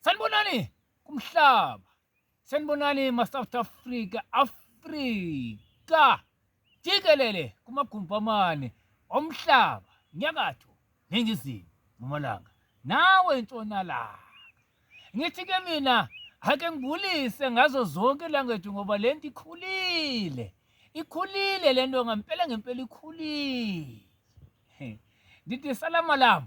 Sanibonani kumhlaba. Sanibonani ma South Africa, Africa. Jikelele kumagumpamane omhlaba, nyakatho, ningizimu, mpumalanga. Nawe ntshonalanga. Ngithi ke mina ake ngibulise ngazo zonke language ngoba lento ikhulile. Ikhulile lento ngempela ngempela ikhulile. Ndithi salamalama.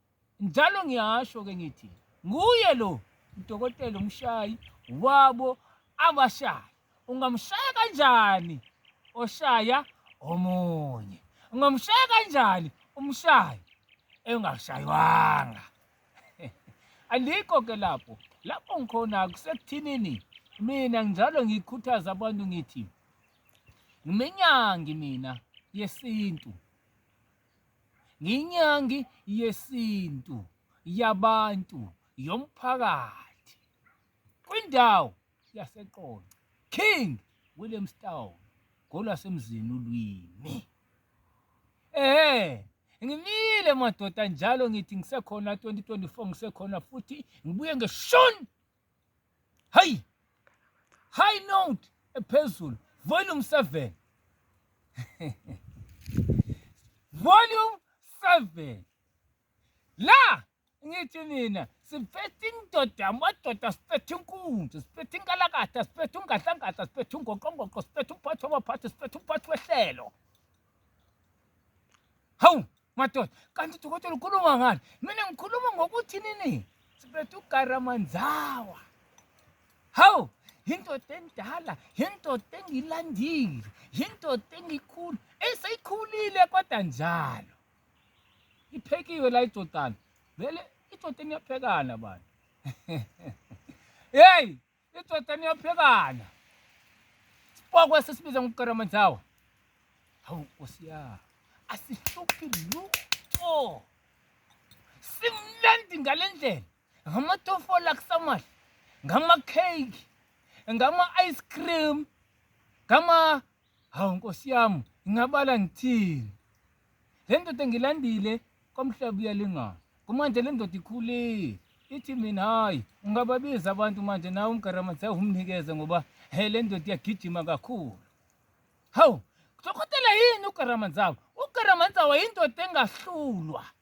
Njalo ngiyasho-ke ngithi nguye lo udokotela umshayi wabo abashayi. Ungamshaya kanjani oshaya omunye? Ungamshaya kanjani umshayi engashayanga? Alikho ke lapho. Lapho ngikhona kusekuthinini mina njalo ngikhuthaza abantu ngithi ngimenyangi mina yesintu Nginyangi yesintu yabantu yomphakathi kwindawo yaseQonce, King Williamstown, ngolwasemzini ulwimi. Ehhe, ngimile madoda njalo ngithi ngisekhona 2024 ngisekhona futhi ngibuye ngeshoni Hayi! High note ephezulu. Volume 7. Volume 7. La ngithi nina siphethe indoda amadoda siphethe inkunzi siphethe inkalakatha siphethe ungadlangadla siphethe ungoqongoqo siphethe umphathi wabaphathi siphethe umphathi wehlelo hawu madoda kanti dokotela ukhuluma ngani mina ngikhuluma ngokuthi nini sibethe ugaramanzawa hawu yindoda endala yindoda engilandile yindoda engikhulu eseyikhulile kodwa njalo iphekiwe la idodana vele idodeni yaphekana bantu yeyi Idoda niyaphekana. Sipokwe sisibiza ngokukaramanthawa. Hawu Nkosi ya. Asihluphi lutho. Simnandi ngalendlela. Ngamatofola kusamahle. Ngama cake. Ngama ice cream. Ngama Hawu nkosi yami ngingabala ngithini le ndoda engilandile komhlaba uyalingana kumanje le ndoda ikhulile ithi mina hhayi ungababiza abantu manje nawe umgaramadze umnikeze ngoba he le ndoda iyagijima kakhulu hawu kuzokhotela yini ugaramadzawo ugaramadzawo yindoda engahlulwa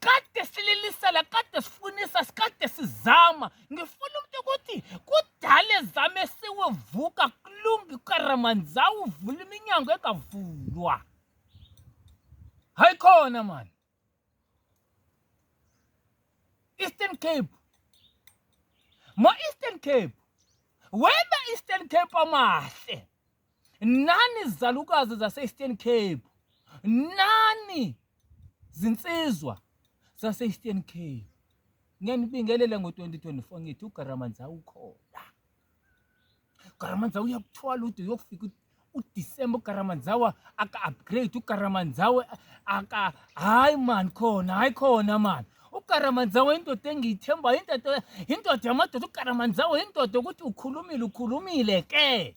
kade sililisela kade sifunisa sikade sizama ngifuna umuntu ukuthi kudala ezame siwevuka kulungi karamanzawu uvula iminyango engavulwa hayi khona mani eastern cape ma-eastern cape wena eastern cape amahle nani izalukazi zase-eastern cape nani zinsizwa zase-eastern cape ngiyanibingelela ngo-2024 ngithi ugaramanza ukhona ugaramanza uyakuthwala ude uyokufika udisemba ugaramanzawa aka-upgrade ugaramanzawe aka hayi mani khona hayi khona mani ukaramanzawo indoda engiyithembayo indoda indoda yamadoda ukaramanzawo indoda ukuthi ukhulumile ukhulumile ke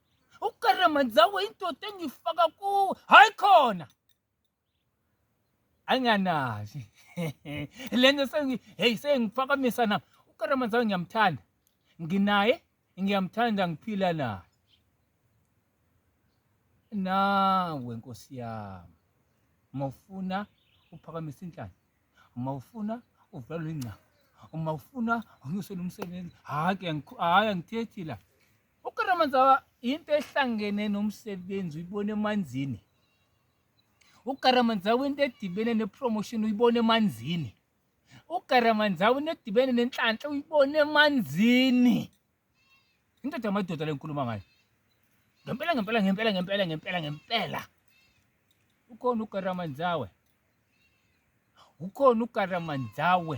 uKaramanzawe indoda engifaka kuwe hayi khona anganazi lento sengi hey sengiphakamisa na uKaramanzawe ngiyamthanda nginaye ngiyamthanda ngiphila naye nawe nkosi yami uma ufuna uphakamisa inhlanya uma ufuna uvalwe ingcama uma ufuna unyusele umsebenzi hhayi hhayi angithethi la UKaramanzawa into ehlangene nomsebenzi uyibona emanzini. UKaramanzawa into edibene nepromotion uyibona emanzini. UKaramanzawa into edibene nenhlanhla uyibona emanzini. Indoda yamadoda lenkuluma ngayo. Ngempela ngempela ngempela ngempela ngempela ngempela. Ukhona uKaramanzawa. Ukhona uKaramanzawa.